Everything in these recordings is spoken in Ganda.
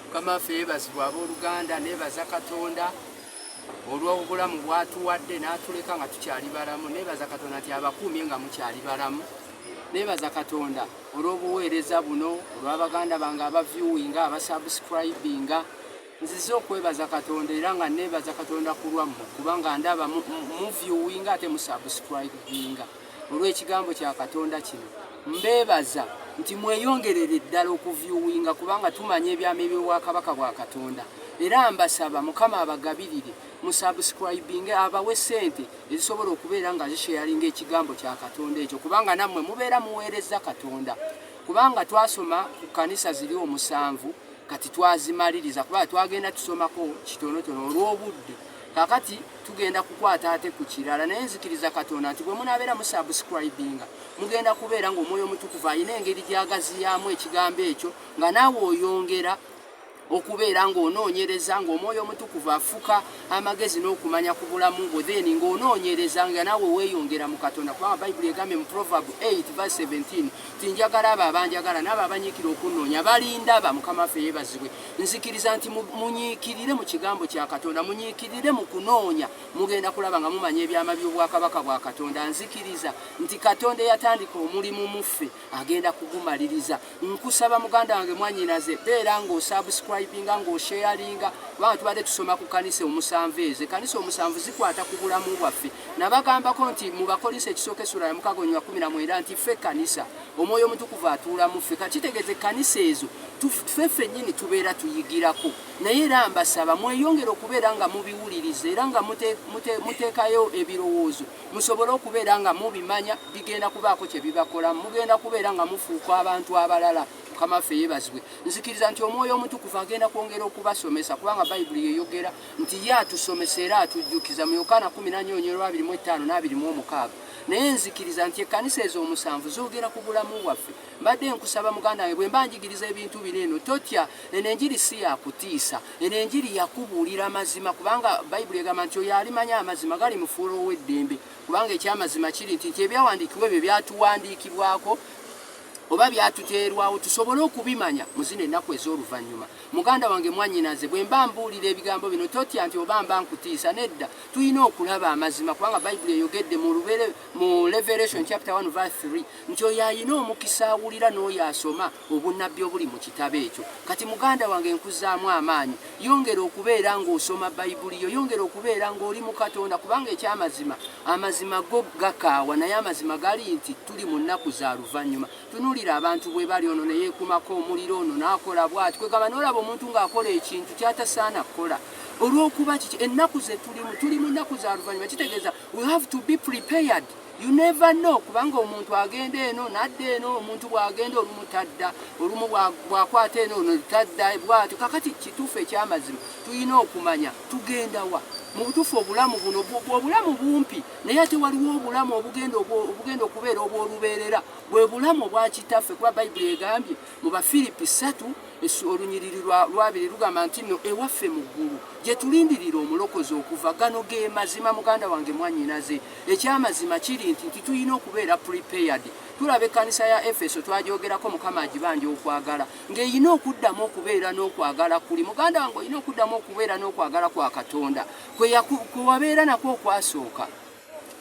mukama waffe yebazibwa abooluganda nebaza katonda olw'obulamu bwatuwadde n'atuleka nga tukyali balamu nebaza katonda nti abakuumye nga mukyali balamu nebaza katonda olw'obuweereza buno olw'abaganda bange abaviewinga abasubscribinga nzize okwebaza katonda era nga nebaza katonda ku lwammwe kubanga ndaba muviewinga ate musubscribinga olw'ekigambo kya Katonda kino. Mbeebaza nti mweyongerere ddala okuvyuwinga kubanga tumanya ebyama eby'obwakabaka bwa Katonda. Era mbasaba Mukama abagabirire mu subscribinge abawe sente ezisobola okubeera nga zisheyalinga ekigambo kya Katonda ekyo kubanga nammwe mubeera muweereza Katonda. Kubanga twasoma ku kkanisa ziri omusanvu kati twazimaliriza kubanga twagenda tusomako kitonotono olw'obudde kakati tugenda kukwata ate ku kirala naye nzikiriza katonda nti bwe munabeera musubscribinga mugenda kubeera ng'omwoyo omutukuvu alina engeri gyagaziyaamu ekigambo ekyo nga naawe oyongera okubeera ng'onoonyereza ng'omwoyo omutukuvu afuka amagezi n'okumanya ku bulamu bwo then ng'onoonyereza nga naawe weeyongera mu katonda kubanga bayibuli egambye mu proverb 8 v 17 ti njagala abo abanjagala naabo abanyiikira okunnoonya balindaba mukama waffe yeebazibwe nzikiriza nti munyiikirire mu kigambo kya katonda munyiikirire mu kunoonya mugenda kulaba nga mumanya ebyama by'obwakabaka bwa katonda nzikiriza nti katonda eyatandika omulimu muffe agenda kugumaliriza nkusaba muganda wange mwanyinaze beera ng'osubscribinga ng'osheyalinga kubanga tubadde tusoma ku kanisa omusanvu ezo ekanisa omusanvu zikwata ku bulamu bwaffe nabagambako nti mu bakolinsi ekisooka esula yamukago nywa 19 nti ffe ekkanisa omwoyo omutukuvu atuula mu ffe ka kitegeeza ekkanisa ezo tufe ffennyini tubeera tuyigirako naye era mbasaba mweyongere okubeera nga mubiwuliriza era nga muteekayo ebirowoozo musobole okubeera nga mubimanya bigenda kubaako kye bibakola mugenda kubeera nga mufuuka abantu abalala mukama ffe yebazibwe nzikiriza nti omwoyo omutukuvu agenda kwongera okubasomesa kubanga bayibuli yeyogera nti ye atusomesa era atujjukiza mu yokaana 1 nyo 2 25 naye nzikiriza nti ekkanisa ezo omusanvu zoogera ku bulamu bwaffe mbadde nkusaba muganda wange bwe mba njigiriza ebintu bino eno totya eno enjiri si yakutiisa eno enjiri yakubuulira amazima kubanga bayibuli egamba nti oyo alimanya amazima gali mufuula ow'eddembe kubanga ekyamazima kiri nti nti ebyawandiikibwa ebyo byatuwandiikibwako oba byatuteerwawo tusobole okubimanya mu zino ennaku ez'oluvannyuma muganda wange mwannyinaze bwe mba mbuulira ebigambo bino totya nti oba mba nkutiisa nedda tulina okulaba amazima kubanga bayibuli eyogedde mu lubere mu revelation chapter 1 verse 3 nti oyo ayina omukisa awulira n'oyo asoma obunnabbi obuli mu kitabo ekyo kati muganda wange nkuzaamu amaanyi yongera okubeera ng'osoma bayibuli yo yongera okubeera ng'oli mu katonda kubanga ekyamazima amazima go gakaawa naye amazima gali nti tuli mu nnaku za luvannyuma tunuulira abantu bwe bali ono ne yeekumako omuliro ono n'akola bwati kwegamba n'olaba omuntu ng'akola ekintu kyatasaana kukola olw'okuba kiki ennaku ze tulimu tuli mu nnaku za luvannyuma kitegeeza we have to be prepared you never know kubanga omuntu agenda eno nadda eno omuntu bw'agenda olumu tadda olumu bw'akwata eno ono tadda bw'atyo kakati kituufu eky'amazima tulina okumanya tugenda wa mu butuufu obulamu buno obulamu bumpi naye ate waliwo obulamu obugenda okubeera obw'olubeerera bwe bulamu obwa kitaffe kuba bayibuli egambye mu bafiripi ssatu olunyiriri lwabiri lugamba nti no ewaffe mu ggulu gye tulindirira omulokozi okuva gano ge mazima muganda wange mwanyinaze ekyamazima kiri nti nti tulina okubeera prepared tulaba ekkanisa ya efeso twagyogerako mukama agibanja okwagala ng'erina okuddamu okubeera n'okwagala kuli muganda wange olina okuddamu okubeera n'okwagala kwa katonda kwe wabeera nakwo okwasooka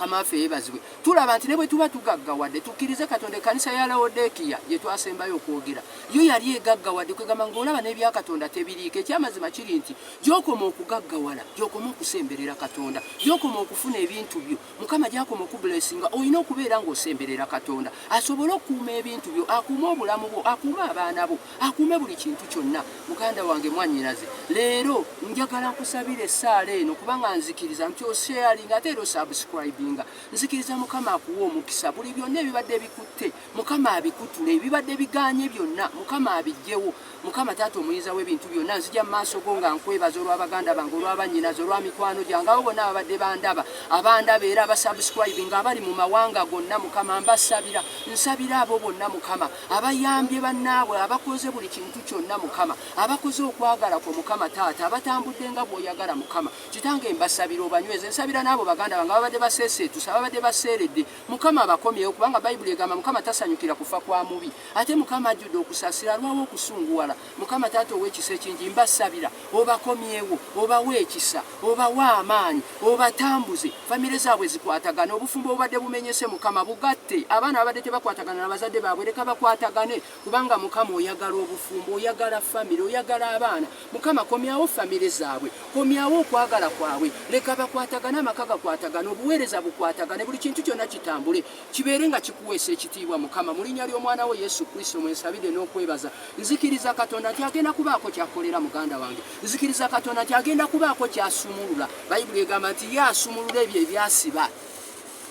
mukama waffe yebazibwe tulaba nti ne bwe tuba tugaggawadde tukkirize katonda ekkanisa ya lawodekiya gye twasembayo okwogera yo yali egaggawadde kwegamba ngaolaba n'ebya katonda tebiriiko ekyamazima kiri nti gyokoma okugaggawala gyokoma okusemberera katonda gyokoma okufuna ebintu byo mukama gyakoma okubulesinga olina okubeera ng'osemberera katonda asobole okukuuma ebintu byo akuume obulamu bwo akuume abaana bo akuume buli kintu kyonna muganda wange mwanyinaze leero njagala nkusabira essaala eno kubanga nzikiriza nti osheyalinga ate era osubscribinga nzikiriza mukama akuwa omukisa buli byonna ebibadde bikutte mukama abikutule ebibadde biganye byonna mukama abijjewo mukama taata omuyinza w'ebintu byonna nzija mu maaso go nga nkwebaza olw'abaganda bange olw'abanyinaze olwa mikwano gyange abo bonna ababadde bandaba abandaba era abasubscribinga abali mu mawanga gonna mukama mbasabira nsabira abo bonna mukama abayambye bannaabwe abakoze buli kintu kyonna mukama abakoze okwagala kwo mukama taata abatambudde nga bwoyagala mukama kitange mbasabira obanyweze nsabira n'abo baganda bange ababadde baseeseetusa ababadde baseeredde mukama abakomyewo kubanga bayibuli egamba mukama tasanyukira kufa kwa mubi ate mukama ajjudde okusasira alwawo okusunguwala Mukama taata ow'ekisa ekingi mbasabira obakomyewo obawe ekisa obawe amaanyi obatambuze famire zaabwe zikwatagane obufumbo obubadde bumenyese mukama bugatte abaana babadde tebakwatagana na bazadde baabwe leka bakwatagane kubanga mukama oyagala obufumbo oyagala famire oyagala abaana mukama komyawo famire zaabwe komyawo okwagala kwabwe leka bakwatagane amaka gakwatagane obuweereza bukwatagane buli kintu kyonna kitambule Kibeere nga kikuweesa ekitiibwa Mukama. Mu linnya ly'omwana wo Yesu Kristo mwe nsabidde n'okwebaza. Nzikiriza Katonda nti agenda kubaako ky'akolera muganda wange. Nzikiriza Katonda nti agenda kubaako ky'asumulula. Bayibuli egamba nti ye asumulula ebyo ebyasiba.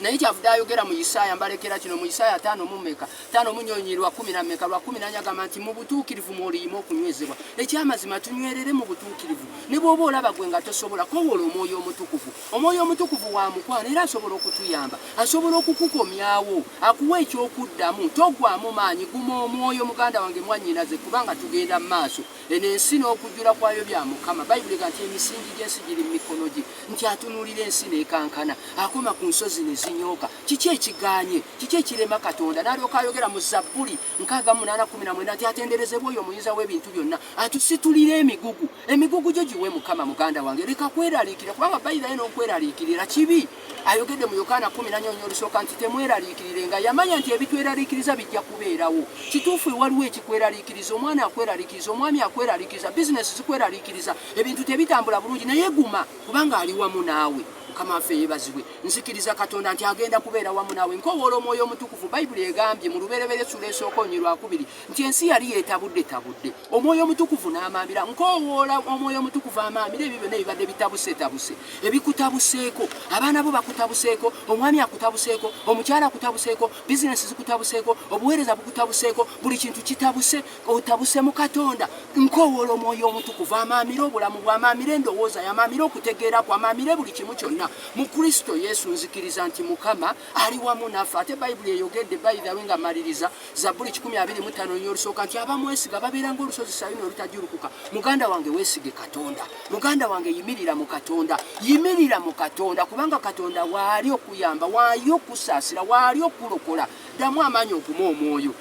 naye kyavude ayogera mu isaaya mbalekera kino mu isaaya tano mumeka tano munyonyi lwa kumi na meka lwa kumi nanya agamba nti mu butuukirivu mwoliyima okunywezebwa ekyamazima tunywerere mu butuukirivu ne bwoba olaba gwe nga tosobola kowola omwoyo omutukuvu Omwoyo omutukuvu wa mukwano era asobola okutuyamba, asobola okukukomyawo, akuwa eky'okuddamu. Togwamu maanyi, guma omwoyo muganda wange, mwannyinaze, kubanga tugenda mu maaso. Eno ensi n'okujjula kwayo bya Mukama. Bayibuli ega nti emisingi gy'ensi giri mu mikono gye, nti atunuulira ensi n'ekankana, akoma ku nsozi ne zinyooka. Kiki ekigaanye? Kiki ekirema Katonda? N'alyoka ayogera mu Zabbuli nkaaga mu munaana kkumi na mwenda nti, Atenderezebwe oyo Omuyinza w'Ebintu Byonna, atusitulira emigugu. Emigugu gyo giwe Mukama muganda wange, leka kweraliikira kubanga Bayibuli alina okweraliikirira kibi. Ayogedde mu Yokaana kumi na nnyonyi olusooka nti temweraliikirire nga yamanya nti ebitweraliikiriza bijja kubeerawo. Kituufu waliwo ekikweraliikiriza, omwana akweraliikiriza, omwami akweraliikiriza, bizinesi zikweraliikiriza, ebintu tebitambula bulungi, naye guma kubanga ali wamu naawe. Mukama waffe yeebazibwe. Nzikiriza Katonda nti agenda kubeera wamu naawe. Nkowoola omwoyo omutukuvu. Bayibuli egambye mu lubereberye essula esooka onyirwakubiri nti ensi yali yeetabuddetabudde. omwoyo omutukuvu n'amaamira nkoowoola omwoyo omutukuvu amaamira ebyo byonna ebibadde bitabusetabuse ebikutabuseeko abaana bo bakutabuseeko omwami akutabuseeko omukyala akutabuseeko bizinesi zikutabuseeko obuweereza bukutabuseeko buli kintu kitabuse otabuse mu katonda nkoowoola omwoyo omutukuvu amaamira obulamu bwamaamira endowooza yamaamira okutegeera ku amaamire buli kimu kyonna mu kristo yesu nzikiriza nti mukama ali wamu naffe ate bayibuli eyogedde bayidhawe nga maliriza zabbuli kikumi abiri mu ttaano nya olusooka nti abamwesiga babeera ngaolusozi sayuni olutajulukuka muganda wange weesige katonda muganda wange yimirira mu katonda yimirira mu katonda kubanga katonda waali okuyamba waali okusaasira waali okulokola ddamu amaanyi okuma omwoyo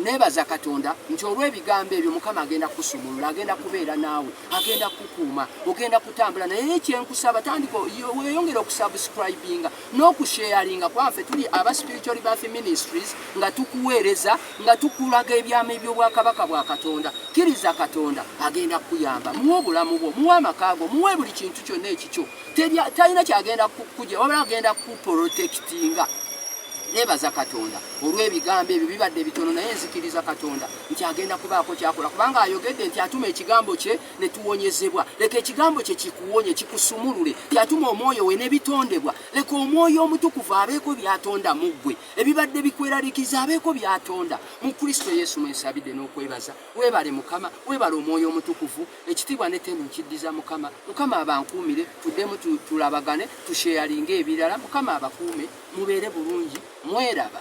nebaza katonda nti olw'ebigambo ebyo mukama agenda kusumulula agenda kubeera naawe agenda kukuuma ogenda kutambula naye kyenkusaba tandika weyongere okusubscribinga n'okusheyalinga kwaffe tuli aba spiritual birth ministries nga tukuweereza nga tukulaga ebyama eby'obwakabaka bwa katonda kkiriza katonda agenda kukuyamba muwe obulamu bwo muwe amakaago muwe buli kintu kyonna ekikyo talina kyagenda kukuja wabula agenda kukuprotekitinga nebaza katonda olw'ebigambo ebyo bibadde bitono naye nzikiriza katonda nti agenda kubaako kyakola kubanga ayogedde nti atuma ekigambo kye ne tuwonyezebwa leka ekigambo kye kikuwonye kikusumulule yatuma omwoyo we nebitondebwa leka omwoyo omutukuvu abeeko byatonda mu ggwe ebibadde bikweralikiza abeeko byatonda mu kristo yesu mwensabidde n'okwebaza webale mukama webale omwoyo omutukuvu ekitiibwa netendo nkiddiza mukama mukama abankuumire tuddemu tulabagane tusheyalinga ebirala mukama abakuume mubeere bulungi mweraba